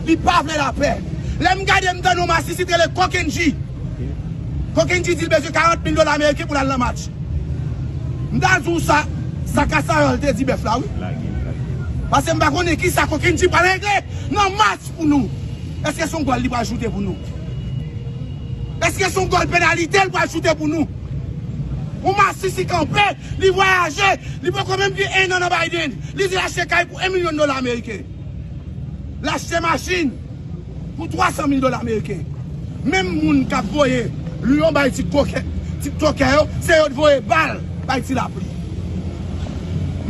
Li pa vle lapè. Lè m gade m tande yon masisi t rele Kokendji. Kokendji di l bezwen 40 mil dola ameriken pou l al nan match. M ta di w sa, sa Kasayòl te di bèf la wi. Pase m pa konnen ki sa Kokendji pral regle nan match pou nou. Eske se yon gòl li pral choute pou nou? Eske se yon gòl penalite l pral choute pou nou? Yon masisi kanpe, li vwayaje, li poko menm gen ennan nan Biden. Li di l achte kay pou 1 milyon dola ameriken. L achte machin pou 300 mil dola meriken. Menm moun k ap voye liyon bay ti tokè yo, se yo t voye bal bay ti lapli.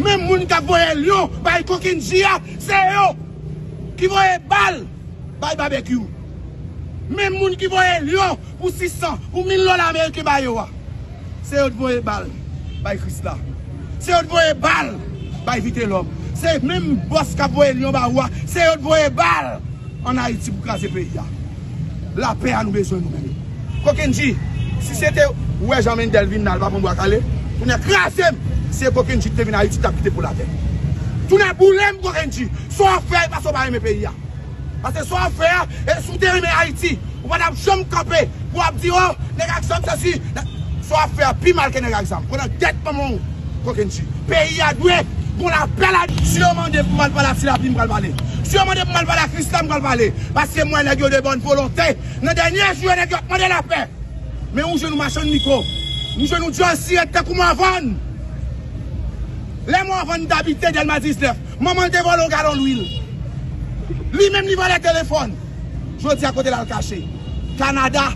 Menm moun k ap voye liyon bay kokenn ji a, se yo ki voye bal bay babekyou. Menm moun ki voye liyon. Pou 600, pou 1000 dola ameriken ba yo a. Se yo t voye bal bay krisla. Se yo t voye bal bay vitelom. Se menm boss kap voye lion ba ou a. Se yo t voye bal an ayiti pou kraze peyi a. La pè a nou bezwen nou menm. Kokendji si se te ou wè jan mendel vin la li pa pran bwa kale kounya krazem si se kokendji ki te vin ayiti tap kite poul atè. Tounen boulem kokendji sa w fè e pa sa w pa renmen peyi a. Pase sa w ap fè a, e si w te renmen Ayiti, ou pa t ap janm kanpe pou w ap di o, nèg ak zam sesi, nèg ak. Sa w ap fè a pi mal ke nèg ak zam. Kon nan tèt manman w kokenn tu. Peyi a dwe gon lapè la. Si yo mande pou m al pale ak Tilapi, m pral pale. Si yo mande pou m al pale ak Krisla, m pral pale. Pase mwen wè nèg yo de bòn volonte. Nan dènye jou yo nèg yo ap mande lapè. Men ou jwenn yon machann miko. M jwenn yon dyòl sirèt tankou Mòvàn. Lè Mòvàn t abite Dèlma 19. Manman l te vòlè yon galon lwil. Li menm li vòlè telefòn. Jodi a kote l al kache? Kanada.